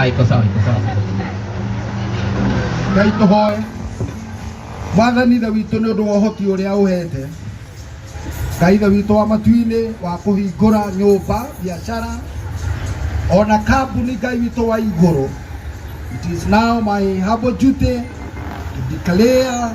Ay, cosa, ay, cosa. Ngai tũhoe wathani tha witũ nĩ ũndũ wa ũhoti ũrĩa ũhete ngai tha witũ wa matu-inĩ wa kũhingũra nyũmba biacara ona kambuni ngai witũ wa igũrũ it is now my humble duty to declare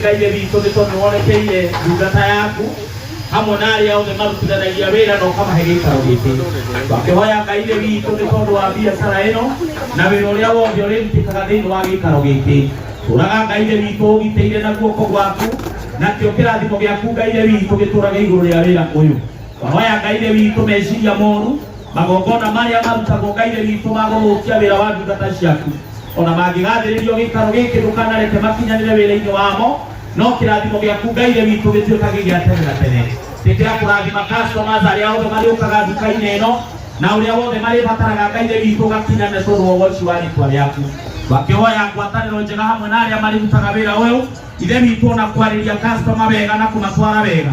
Ngai witũ nĩ tondũ worekeire ndungata yaku hamwe na arĩa othe marutithanagia wĩra na ũkamahe gĩikaro gĩkĩ makĩhoya Ngai nĩ witũ nĩ tondũ wa biacara ĩno na wĩra ũrĩa wothe ũrĩrutĩkaga thĩinĩ wa gĩikaro gĩkĩ tũraga Ngai nĩ witũ ũgitĩire na guoko gwaku nakĩo kĩrathimo gĩaku Ngai nĩ witũ gĩtũrage igũrũ rĩa wĩra ũyũ mahoya Ngai nĩ witũ meciria moru magongona marĩa marutagwo ngai-inĩ witũ ma gũthũkia wĩra wa ndungata ciaku ona mangĩgathĩrĩrio gĩikaro gĩkĩ ndũkanareke makinyanĩre wĩra-inĩ wamo no kĩrathimo gĩaku ngai-inĩ witũ gĩtuĩkage gĩa tene na tene tĩkĩra kũrathima customers arĩa othe marĩũkaga nduka-inĩ ĩno na ũrĩa wothe marĩbataraga ngai-inĩ witũ ũgakinyanĩre tondũ wa ũgoci wa rĩtwa rĩaku wakĩhoya ngwatanĩro njega hamwe na arĩa marĩrutaga wĩra ũyũ ithe witũ ona kwarĩria customer wega na kũmatwara wega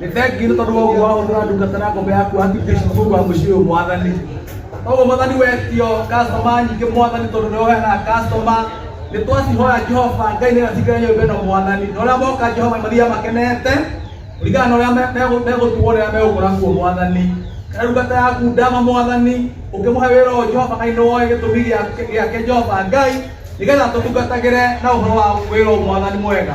nä thengio nä tondå wa å guo wa gå tå ra ndungata na ngombe yaku hakikisha mungu wa må ciä å mwathani koguo mwathani wetio customer nyingä mwathani tondå nä oheana customer nä twacihoya jehova ngai nä gatigä nyå mba ä no mwathani na å rä a moka jehova mathiaga makenete kũringana na ũrĩa megũtuo rĩrĩa megũkora kuo mwathani kana ndungata yaku ndama mwathani ũkĩmũhe wĩra ũyũ jehova ngai nĩ woĩ gĩtũmi gĩake- gĩake jehova ngai nĩgetha tũtungatagĩre na ũhoro wa wĩra ũyũ mwathani mwega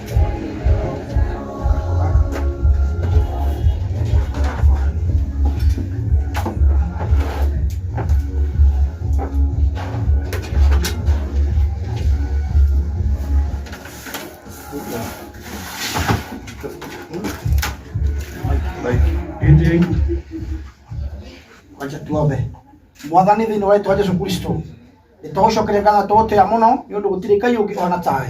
mwathani thĩinĩ wa rĩtwa jesu kristo nĩtũgũcokeria ngatho tũgũtĩa mũno nĩ ũndũ gũtirĩ ngai ũngĩ ona tawe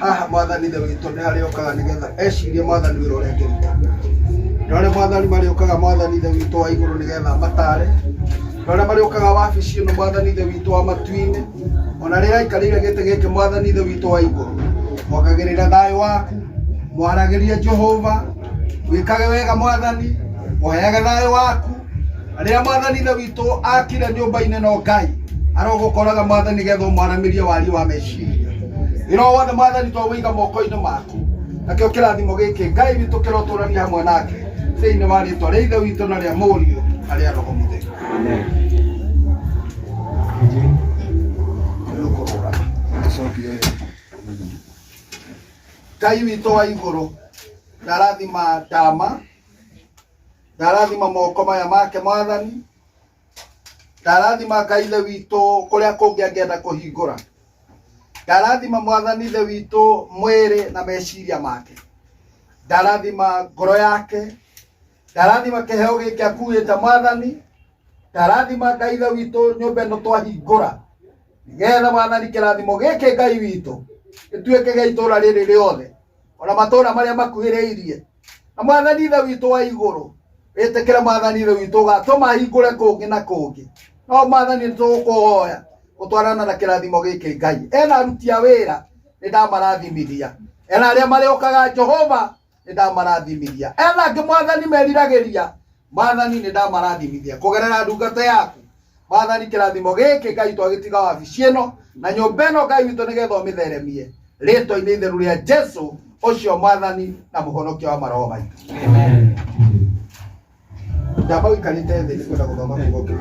Haha mwathani ithe witũ nĩ harĩa okaga nĩgetha ecirie mwathani wĩra ũrĩa angĩruta. Nĩ harĩa mwathani marĩũkaga mwathani ithe witũ wa igũrũ nĩgetha amatare. Nĩ harĩa marĩũkaga wabici ĩno mwathani ithe witũ wa matu-inĩ. Ona rĩrĩa aikarĩire gĩtĩ gĩkĩ mwathani ithe witũ wa igũrũ, ongagĩrĩra thayũ waku, mwaragĩrie Jehova, wĩkage wega mwathani, ũheage thayũ waku. Rĩrĩa mwathani ithe witũ akire nyũmba-inĩ no Ngai aroka ũkoraga mwathani getha ũmwaramĩrie wariĩ wa meciria wĩra o wothe mwathani twaũiga moko-inĩ maku nakĩo kĩrathimo gĩkĩ Ngai witũ kĩrotũrania hamwe nake thĩinĩ wa rĩtwa rĩa ithe witũ na rĩa mũriũ na rĩa roho mũtheru Rĩu kũrũgama. Gĩcokio rĩu. Ngai witũ wa igũrũ ndarathima ndama Ndarathima moko maya make mwathani, ndarathima Ngai ithe witũ kũrĩa kũngĩ angĩenda kũhingũra, ndarathima mwathani ithe witũ mwĩrĩ na meciria make, ndarathima ngoro yake, ndarathima kĩheo gĩkĩ akuĩte mwathani, ndarathima Ngai ithe witũ nyũmba ĩno twahingũra, nĩgetha mwathani kĩrathimo gĩkĩ Ngai witũ gĩtuĩke gĩa itũũra rĩrĩ rĩothe. ona matũũra marĩa makuhĩrĩirie na mwathani ithe witũ wa igũrũ wĩtĩkĩre mwathani ithe witũ ũgatũma hingũre kũngĩ na kũngĩ no mwathani nĩtũgũkũhoya gũtwarana na kĩrathimo gĩkĩ ngai ena aruti a wĩra nĩ ndamarathimithia ena arĩa marĩũkaga jehova nĩ ndamarathimithia ena angĩ mwathani meriragĩria mwathani nĩ ndamarathimithia kũgerera ndungata yaku mwathani kĩrathimo gĩkĩ ngai twagĩtiga wabici ĩno na nyũmba ĩno ngai witũ nĩgetha ũmĩtheremie rĩtwa-inĩ itheru rĩa jesu ũcio mwathani na mũhonokia wa maroho maitũ njamba ũikarĩte thĩ nĩ kwenda gũthoma kiugo kĩu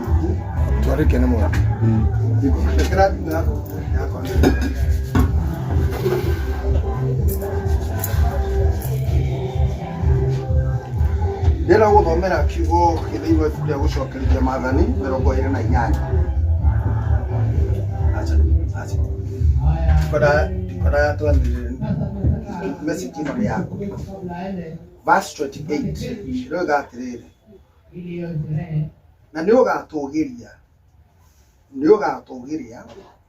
twarĩke nĩ mwana ĩkĩra thimũ yaku yakwa nĩ- Ndĩrenda gũgũthomera kiugo gĩ thĩinĩ wa ibuku rĩa gũcokereria maathani mĩrongo ĩrĩ na inyanya. Aca, aca. Ndikwenda- ndikwenda twanĩrĩre message ĩno nĩ yaku. Verse 28 ĩroiga atĩrĩrĩ na nĩ ũgatũgĩria nĩ ũgatũgĩria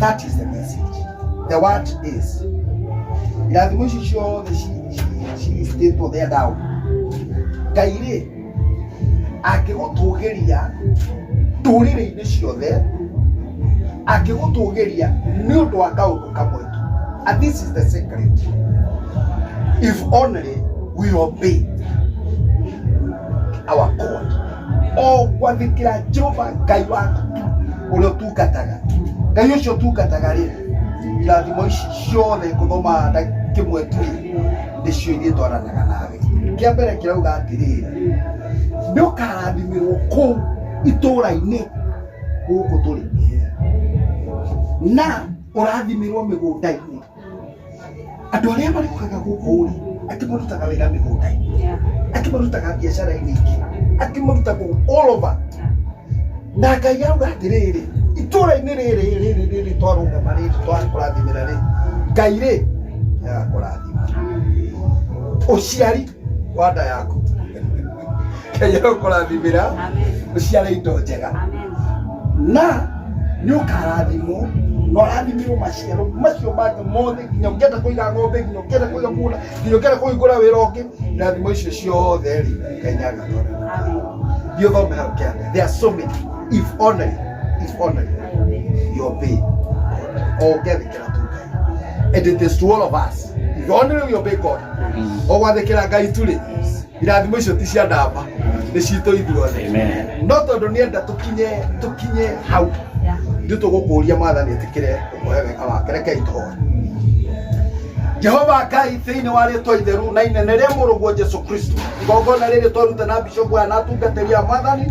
That is the message. The word is lazima ushishie all the shi- shi- shi- state of their down. Ngai rĩ angĩgũtũgĩria ndũrĩrĩ-inĩ ciothe angĩgũtũgĩria nĩ ũndũ wa kaũndũ kamwe tu and this is the secret if only we obey our god o gwathĩkĩra jehova ngai waku tu ũrĩa ũtungataga ngai ũcio ũtungataga rĩ irathimo ici ciothe ngũthomaga nda kĩmwe tu rĩ nĩcio ithiĩ twaranaga nawe kĩa mbere kĩrauga atĩrĩrĩ nĩ ũkarathimĩrwo kũu itũũra-inĩ gũkũ tũrĩ na ũrathimĩrwo mĩgũnda-inĩ Andũ arĩa marĩmaga gũkũ rĩ, angĩ marutaga wĩra mĩgũnda-inĩ, angĩ marutaga biacara-inĩ ingĩ, angĩ marutaga all over. Na Ngai auga atĩrĩrĩ, itũra-inĩ rĩrĩ rĩrĩ twarũgama rĩrĩ twakũrathimĩra rĩ, Ngai rĩ nĩ agakũrathima. Ũciari. wa nda yaku ngai arokũrathimĩra ũciare indo njega na nĩ ũkarathimwo na ũrathimirwo maciaro macio mangĩ mothe nginya ũngĩenda kũiga ng'ombe nginya ũngĩenda kũiga mũgũnda nginya ũngĩenda kũhingũra wĩra ũngĩ irathimo icio ciothe rĩ ngai nĩ agĩtwara thiĩ ũthome hau kĩanda there are so many if only if only your pay o ũngĩathĩkĩra and it is to all of us you only will obey God ogwathĩkĩra ngai turĩ irathimo icio ti cia ndamba nĩ citũ ithuothe Amen. no tondũ nĩ enda tũkinye tũkinye hau ithuĩ tũgũkũria mwathani ĩtĩkĩre ũkohe wega wake rekei tũhoe jehova ngai thĩinĩ wa rĩtwa itheru na inene rĩa mũrũguo jesu kristo igongona rĩrĩ twaruta na bishopu aya na atungatĩri a mwathani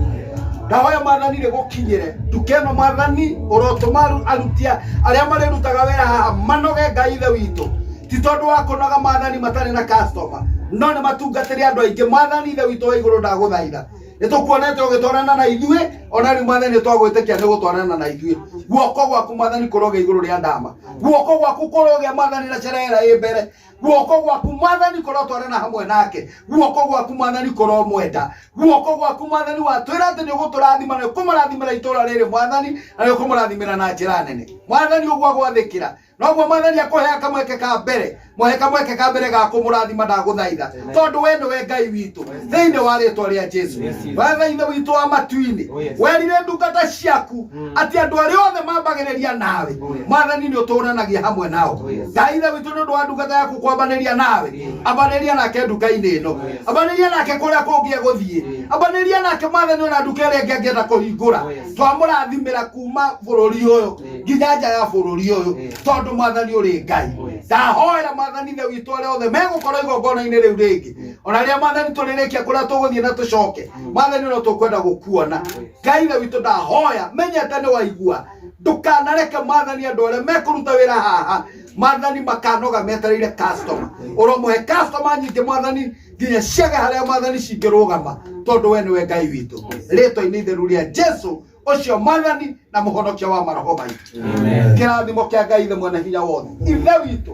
Ndahoya mwathani rĩgũkinyĩre nduka ĩno mwathani, ũrotũma aru- aruti a- arĩa marĩrutaga wĩra haha manoge Ngai ithe witũ, ti tondũ wa kũnoga mwathani matarĩ na customer, no nĩ matungatĩre andũ aingĩ. Mwathani ithe witũ wa igũrũ ndagũthaitha, nĩ tũkuonete ũgĩtwarana na ithuĩ, ona rĩu mwathani nĩ twagwĩtĩkia nĩ ũgũtwarana na ithuĩ. Guoko gwaku mwathani kũroge igũrũ rĩa ndama, guoko gwaku kũrogĩa mwathani na cerera ĩ mbere guoko gwaku mwathani kũrotwarana hamwe nake guoko gwaku mwathani kũromwenda guoko gwaku mwathani watwĩra atĩ nĩ ũgũtũrathima na ũkũmũrathimĩra itũra rĩrĩ mwathani na nĩ ũkũmũrathimĩra na njĩra nene mwathani ũguo agwathĩkĩra noguo mwathani akũhea kamweke ka mbere mũhe kamweke ka mbere ga kũmũrathima ndagũthaitha tondũ we nĩwe ngai witũ thĩinĩ wa rĩtwa rĩa jesu Yes, Jesus. wetha-inĩ witũ wa matu-inĩ Oh, yes. werire ndungata ciaku Mm. atĩ andũ arĩa othe mambagĩrĩria nawe Oh, yes. mwathani nĩ ũtũũranagia hamwe nao Oh, yes. ngai ithe witũ nĩ ũndũ wa ndungata yaku kwambanĩria nawe Yes. ambanĩria nake nduka-inĩ ĩno Oh, yes. ambanĩria nake kũrĩa kũngĩ egũthiĩ Yes. ambanĩria nake mwathani ona nduka ĩrĩa ĩngĩ angĩenda kũhingũra Oh, yes. twamũrathimĩra kuma bũrũri ũyũ Yes. nginya nja ya bũrũri ũyũ Yes. tondũ mwathani ũrĩ ngai Oh, yes. ndahoera mwathani ithe witũ arĩa othe megũkorwo igongona-inĩ rĩu rĩngĩ ona rĩrĩa mwathani tũrĩrĩkia kũrĩa tũgũthiĩ na tũcoke mwathani no tũkwenda gũkuona ngai ithe witũ ndahoya menyete nĩ waigua ndũkanareke mwathani andũ arĩa mekũruta wĩra haha mwathani makanoga metereire customer ũromũhe customer nyingĩ mwathani nginya ciage harĩa mwathani cingĩrũgama tondũ we nĩwe ngai witũ rĩtwa-inĩ itheru rĩa jesu ũcio mwathani na mũhonokia wa maroho maitũ kĩrathimo kĩa ngai ithe mwene hinya wothe ithe witũ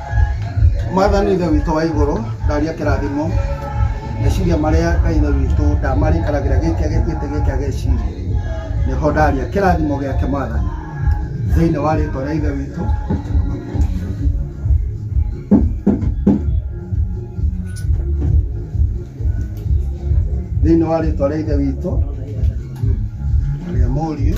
Mwathani Ithe witũ wa igũrũ, ndaria kĩrathimo, meciria marĩa Ngai Ithe witũ ndamarĩkanagĩra gĩkĩa gĩtĩ gĩkĩa gĩa iciri, nĩho ndaria kĩrathimo gĩake Mwathani, thĩinĩ wa rĩtwa rĩa Ithe witũ. Thĩinĩ wa rĩtwa rĩa Ithe witũ na rĩa Mũriũ.